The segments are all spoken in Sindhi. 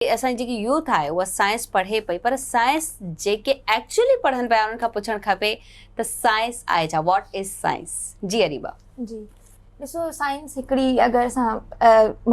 اسان جي جيڪي يوٿ آهي اها سائنس پڙهي پئي پر سائنس جيڪي ايڪچولي پڙهن پيا انهن کان پڇڻ کپي ته سائنس آهي ڇا واٽ از سائنس جي اريبا. جي ڏسو سائنس هڪڙي اگر اسان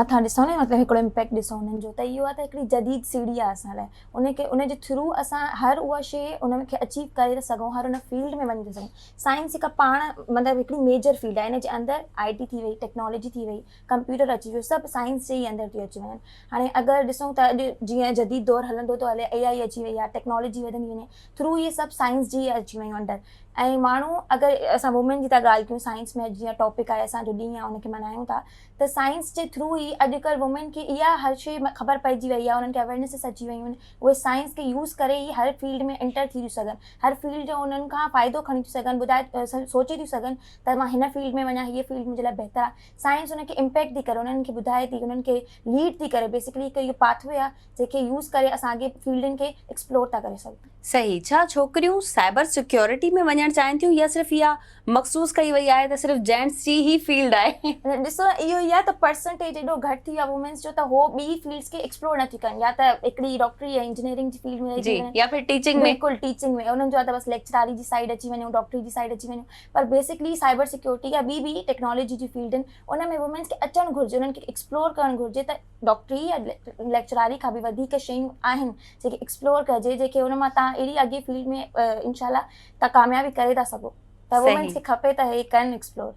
مٿان ڏسون نه مطلب هڪڙو امپيڪٽ ڏسون انهن جو ته اهو آهي ته هڪڙي جديد سيڙهي آهي اسان لاء ان کي ان جي ٿرو اسان هر اها شي ان کي اچيو ڪري ٿا سگهون هر ان فيلڊ ۾ وڃي ٿا سگهون سائنس هڪ پاڻ مطلب هڪڙي ميجر فيلڊ آهي ان جي اندر آئي ٽي ٿي وئي ٽيڪنالاجي ٿي وئي ڪمپيوٽر اچي ويو سڀ سائنس جي ئي اندر ٿيو اچي وڃن هاڻي اگر ڏسون ته اڄ جيئن جديد دور هلندو ٿو هلي اي آئي اچي وئي آهي ٽيڪنالاجي وڌندي وڃي ٿرو اهي سڀ سائنس جي اچي ويون انڊر ۽ ماڻهو اگر اسان وومين جي ٿا ڳالهه ڪيون سائنس ۾ جيئن ٽاپڪ آهي اسان جو ڏينهن آهي ان کي ملهايون ٿا ته سائنس جي ٿرو ئي اڄڪلهه وومين کي اها هر شي خبر پئجي وئي آهي انهن کي اويرنيسز اچي ويون آهن اهي سائنس کي يوز ڪري ئي هر فيلڊ ۾ انٽر ٿي ٿيون سگهن هر فيلڊ جو انهن کان فائدو کڻي ٿيون سگهن ٻڌائي سوچي ٿيون سگهن ته مان هن فيلڊ ۾ وڃان، هيء فيلڊ منهنجي لاء بهتر آهي. سائنس انهن کي امپيڪٽ ٿي ڪري، انهن کي ٻڌائي ٿي، انهن کي ليڊ ٿي ڪري. بيسڪلي هڪ اهو پاٿ وي آهي، جنهن کي يوز ڪري اسان اڳي فيلڊن کي ايڪسپلور ٿا ڪري سگهون. صحيح. ڇا ڇوڪريون سائبر سيڪيورٽي ۾ وڃڻ چاهين ٿيون يا صرف اها مخصوص ڪئي وئي آهي ته صرف جينٽس جي ئي فيلڊ آهي؟ ڏسو اهو ئي آهي ته پرسنٽيج ايڏو گهٽ ٿي ويو آهي وومينس جو ته هو ٻي فيلڊس کي ايڪسپلور نه ٿي ڪن يا ته هڪڙي ڊاڪٽري يا انجنيئرنگ جي فيلڊ ۾ رهجي وڃن. جي يا ڦر ٽيچنگ ۾. بلڪل ٽيچنگ ۾ انهن جو آهي ته بس ليڪچراري جي سائيڊ اچي وڃون، ڊاڪٽري جي سائيڊ اچي وڃون. پر بيسڪلي سائبر سيڪيورٽي يا ٻي به ٽيڪنالاجي جي فيلڊن ان ۾ وومينس کي اچڻ گهرجي انهن کي ايڪسپلور ڪرڻ گهرجي ته ڊاڪٽري يا ليڪچراري کان به وڌيڪ شيون آهن جيڪي ايڪسپلور ڪجي جيڪي ان مان تان اهڙي اڳي فيلڊ ۾ انشاء الله تان ڪاميابي ڪري ٿا سگهو ته وومينس کي کپي ته هي ڪن ايڪسپلور.